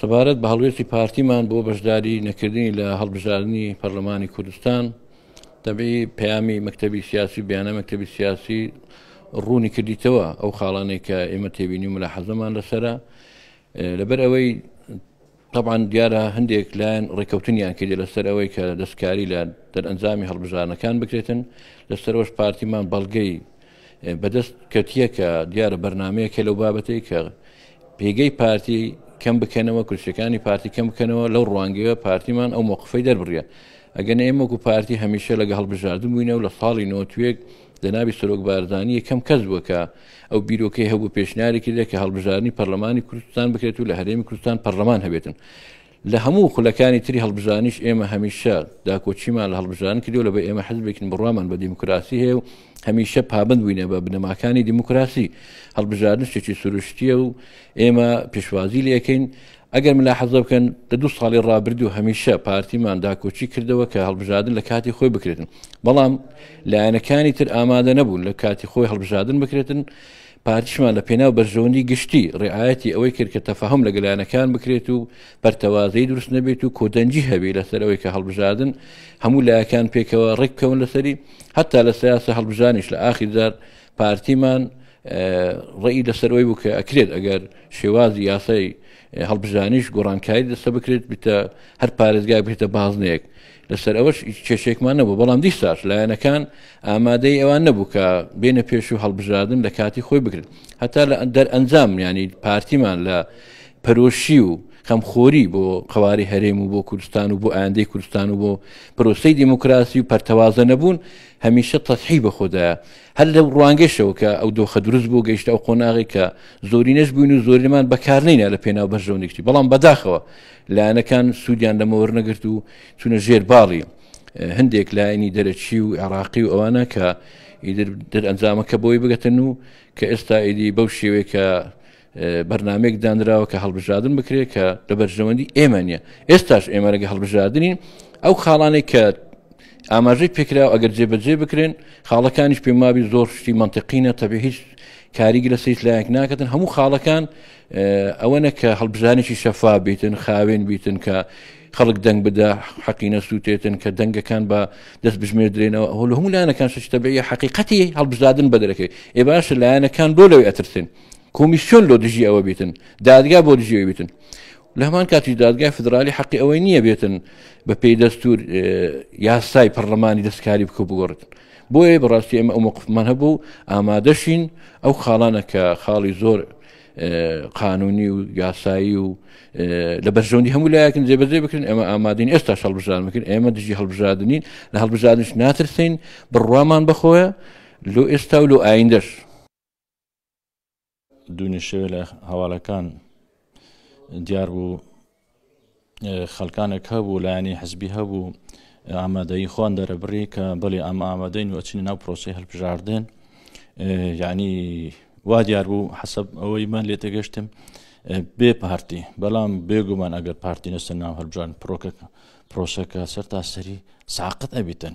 سەبارەت بە هەڵوێستی پارتیمان بۆ بەشداری نەکردنی لە هەڵبژاردننی پەرلەمانی کوردستان دەبی پەیامی مەکتتەبی سیاسی بیانە مەکتتەبی سیاسی ڕوونی کردیتەوە ئەو خاڵانێک کە ئێمە تێبینی و ملا حەزەمان لەسرە لەبەر ئەوەی تەبعەن دیارە هەندێک لایەن ڕێککەوتنیان کردی لەسەر ئەوەی کە دەستکاری لە دەرئەنجامی هەڵبژارنەکان بکرێتن لەسەرەوەش پارتیمان بەڵگەی بەدەست کەتیە کە دیارە بەرنمەیەکە لەو بابەتی کە پێگەی پارتی کەم بکەنەوە کورسەکانی پارتی کەم بکەنەوە لەو ڕوانگەیە پارتیمان ئەو موقفی دەربڕە ئەگەن ئێمەکو پارتی هەمیشە لەگە هەڵبژاردن بووینە و لە ساڵی نۆتوێک جەنابی سەرۆک بارزانی یەکەم کەس بووە کە ئەو بیرۆکەی هەبوو پێشنیاری کردێک کە هەڵبژارنی پەرلەمانی کوردستان بکرێت و لە هەرێمی کوردستان پەرلەمان هەبێتن لە هەموو خولەکانی تری هەڵبژانیش ئێمە هەمیشە داکۆچیمان لە هەڵبژان کردو لە بە ئێمە حزبێکن بڕوامان بە دیموکراسی هەیە و هەمیشە پابند بووینە بە بنەماکانی دیموکراسی هەڵبژاردن شتێکی سروشتیە و ئێمە پێشوازی لەکەین ئەگەر ملاحەزە بکەن لە دوو ساڵی ڕابردوو هەمیشە پارتیمان داکۆچی کردەوە کە هەڵبژادن لە کاتی خۆی بکرێتن بەڵام لایەنەکانی تر ئامادە نەبوون لە کاتی خۆی هەڵبژادن بکرێتن پارتیشمان لە پێناو بەرژەوەندی گشتی ڕعاەتی ئەوەی کرد کە تەفاهم لە گەلانەکان بکرێت و پەرتەوازەی دروست نەبێت و کۆدەنجی هەبی لەسەر ئەوەی کە هەڵبژادن هەموو لایەکان پێکەوە ڕێککەون لەسەری هەتا لە سیاسە هەڵبژانیش لە ئاخیردار پارتیمان ڕێی لەسەر ئەوەی بوو کە ئەکرێت ئەگەر شێوازی یاسای هەڵبژانیش گۆڕانکاری دەستە بکرێت بتە هەر پارێزگای بێتە بازنەیەک لەسەر ئەوەش کێشێکمان نەبوو بەڵام دیساش لایەنەکان ئامادەی ئەوان نەبوو کە بێنە پێش و هەڵبژاردن لە کاتی خۆی بگرن هەتا لە دەر ئەنجام ینی پارتیمان لە پەرۆشی و خەمخۆری بۆ قواری هەرێم و بۆ کوردستان و بۆ ئاندەی کوردستان و بۆ پرۆسی دیموکراسی و پەرتەوازە نەبوون هەمیشە تەسحی بە خۆدایە هەر لەو ڕوانگەشەوە کە ئەو دۆخە دروست بۆ گەیشتە ئەو قۆناغی کە زۆرینەش بووین و زۆرینەمان بەکارنینا لە پێناو بەرژەونیشتی بەڵام بەداخەوە لایەنەکان سوودیان لەمەوەەر نەگرت و چونە ژێر باڵی هەندێک لایەنی دەرەچی و عێراقی و ئەوانە کە ئیدر دەرئەنجامەکە بۆی بگەتن و کە ئێستا ئیدی بەو شێوەیە کە بەرنامەیەک دانراوە کە هەڵبژادن بکرێت کە لە بەرژەوەندی ئێمە نیە ئێستاش ئێمە لەگە هەڵبژادنین ئەو خاڵانەی کە ئاماژەی پێکرا ئەگەر جێبەجێ بکرێن خاڵەکانیش پێمابی زۆر شتی منتیقینە تەبی هیچ کاریگە لە سیت لایەک ناکەن هەموو خاڵەکان ئەوەنە کە هەڵبژانێکی شەفا بیتن خاوێن بیتن کە خەڵک دەنگ بدا حەقینە سووتێتن کە دەنگەکان بە دەست بژمێ درێنەوە هەول هەموو لایەنەکان شتەبەیە حقیقەتی هەڵبژدادن بە دەرەکەی ئێ باشە لایەنەکان بۆ لەوەی ئەترسن کۆمیسیۆن لۆ دژی ئەوە بیتن دادگا بۆ دژی ئەوی بیتن لە هەمان کاتی دادگای فدرالی حەقی ئەوەی نییە بێتن بە پێی دەستور یاسای پەرلەمانی دەستکاری بکە بگۆڕتن بۆیە بەڕاستی ئێمە ئەو مقفمان هەبوو ئامادەشین ئەو خاڵانە کە خاڵی زۆر قانونی و یاسایی و لە بەرژەوندی هەموو لایەکن جێبەجێ بکرن ئێمە ئامادین ئێستا هەڵبژان بکرن ئێمە دژی هەڵبژادنین لە هەڵبژادنش ناترسین بڕوامان بخۆە لۆ ئێستا و لۆ ئایندەش دوێنێ شەوێ لە هەواڵەکان دیار بوو خەلکانێک هەبوو لایەنی حزبی هەبوو ئامادەی خۆن دەرەبڕی کە بڵێ ئەم ئامادەین و ئەچنی ناو پرۆسی هەلپژاردن یعنی وا دیار بوو حەسب ئەوەی من لێ تێگەشتم بێ پارتی بەڵام بێگومان ئەگەر پارتی نەسەر ناو هەلبژان پرۆکە پرۆسەکە سەر تاسەری ساقت ئەبیتن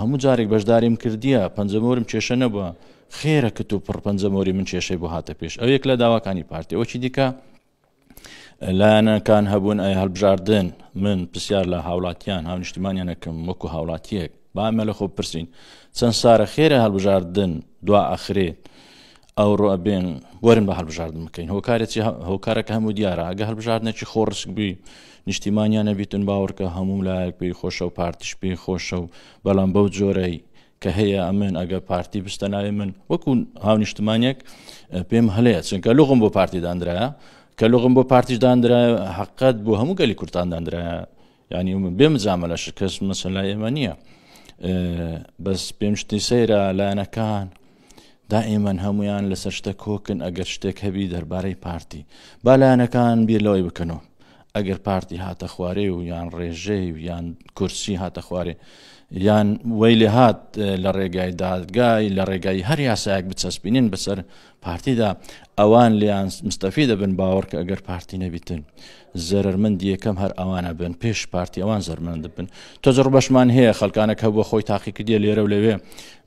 هەموو جارێک بەشداریم کردیە پەنجە مۆرم کێشە نەبوە خێرە کتو پڕ پەنجە مۆری من کێشەی بۆ هاتە پێش ئەو یەک لە داواکانی پارتی ئەوکی دیکە لایەنەکان هەبوون ئەی هەلبژاردن من پرسیار لە هاوڵاتیان هاونیشتیمانیانەکەم وەکو هاوڵاتیەک بامە لە خۆ پرسین چەند سارە خێرە هەلبژاردن دوا ئەخرێت ئەوڕۆ ئەبێن وەرن بە هەڵبژاردن بکەین هۆکارێکی هۆکارەکە هەموو دیارە ئەگە هەڵبژاردنێکی خۆڕشک بووی نیشتیمانیان نەبیتن باوەڕکە هەموو لایەک پێی خۆشە و پارتیش پێی خۆشە و بەڵام بەو جۆرەی کە هەیە ئەمن ئەگە پارتی بستە ناوێ من وەکو هاونیشتمانێک پێم هەلەیە چونکە لغم بۆ پارتی دانرایە کە لغم بۆ پارتیش دانرایە حقت بۆ هەموو گەلی کوردان دانرایە یانی من بێ مجاملە شکست مەسەلا ئێمە نییە بەس پێم شتی سەیرە لایەنەکان دائیمەن هەمویان لەسەر شتە کۆکن ئەگەر شتێک هەبی دەربارەی پارتی بالایەنەکان بیر لەوەی بکەنەوە ئەگەر پارتی هاتە خوارێ و یان ڕێژەی و یان کورسی هاتە خوارێ یان وەی لێ هاات لە ڕێگای دادگای لە ڕێگای هەر یاسایەک بچەسپینین بەسەر پارتیدا ئەوان لیان مستەفی دەبن باوەڕکە ئەگەر پارتی نەبیتن زەرەرمەندی یەکەم هەر ئەوانە بن پێش پارتی ئەوان زەرمەند بن تۆزڕ بەشمان هەیە خەلکانە کە بۆ خۆی تاقیکردە لێرە و لەوێ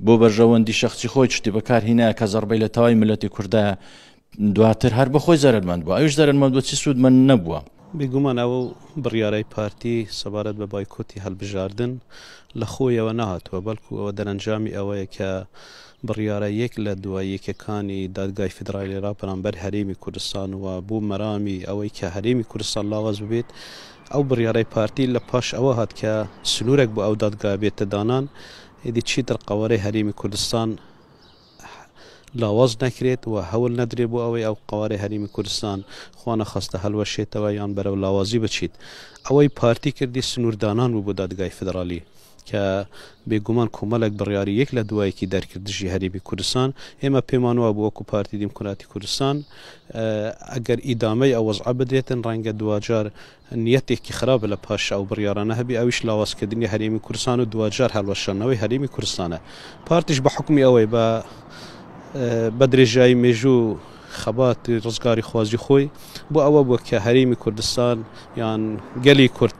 بۆ بەرژەوەندی شخصی خۆی شتی بەکار هینایە کە زەربەی لە تەوای ملەتی کوردە دواتر هەر بە خۆی زەرمەند بوو ئەوش زەرمەند بۆ چی سوود من نەبووە بێگومان ئەو بڕیارای پارتی سەبارەت بە بایکۆتی هەلبژاردن لە خۆیەوە نەهاتووە بەڵکو ئەوە دەرەنجامی ئەوەیە کە بڕیارە یەک لە دوای یەکەکانی دادگای فیدرالی را بەرامبەر هەرێمی کوردستان و بۆ مەرامی ئەوەی کە هەرێمی کوردستان لاواز ببێت ئەو بڕیارەی پارتی لە پاش ئەوە هات کە سنوورێک بۆ ئەو دادگایە بێتە دانان ئیدی چیتر قەوارەی هەرێمی کوردستان لاواز نەکرێت و هەول نەدرێت بۆ ئەوەی ئەو قەوارەی هەرێمی کوردستان خوا نەخواستە هەلوەشێتەوە یان بەرەو لاوازی بچیت ئەوەی پارتی کردی سنووردانان بوو بۆ دادگای فیدرالی کە بێگومان کۆمەڵێک بڕیاری یەک لە دوایەکی دەرکرد دژی هەرێمی کوردستان، ئێمە پێمان وابوو وەکو پارتی دیموکراتی کوردستان ئەگەر ئیدامەی ئەو وەزعە بدرێتن ڕەنگە دواجار نیەتێکی خراپ لە پاش ئەو بڕیارانە هەبێ ئەویش لاوازکردنی هەرێمی کوردستان و دواجار هەڵوەشاندنەوەی هەرێمی کوردستانە پارتیش بە حکومی ئەوەی بە بە درێژایی مێژوو خەبات ڕزگاری خوازی خۆی بۆ ئەوە بووە کە هەرێمی کوردستان یان گەلی کورد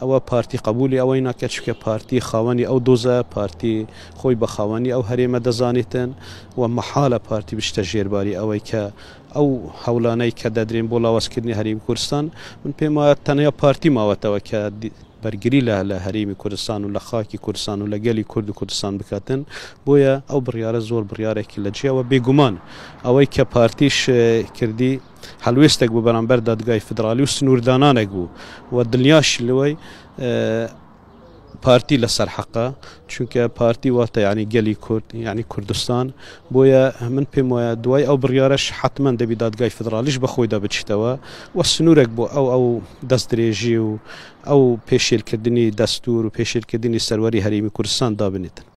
ئەوە پارتی قەبوولی ئەوەی ناکات، چونکە پارتی خاوەنی ئەو دۆزە، پارتی خۆی بە خاوەنی ئەو هەرێمە دەزانێتن و مەحالە پارتی بچتە ژێرباری ئەوەی کە ئەو هەوڵانەی کە دەدرێن بۆ لاوازکردنی هەرێمی کوردستان، من پێم وایە تەنیا پارتی ماوەتەوە کە بەرگری لە لە هەرێمی کوردستان و لە خاکی کوردستان و لە گەلی کورد و کوردستان بکاتن، بۆیە ئەو بڕیارە زۆر بڕیارێکی لە جێیە و بێگومان ئەوەی کە پارتیش کردی، هەڵوێستێک بوو بەرامبەر دادگای فدرالی و سنووردانانێک بوو و دڵنیاشی لەوەی پارتی لەسەر حەقە چونکە پارتی واتە ینی گەلی کورد ینی کوردستان بۆیە من پێم وایە دوای ئەو بڕیارش حتمما دەبی دادگای فدرالیش بەخۆیدا بچیتەوە و سنوورێک بۆ ئەو ئەو دەست درێژی و ئەو پێشێلکردنی دەستور و پێشێلکردنی سەروەری هەرێمی کوردستان دابنێتن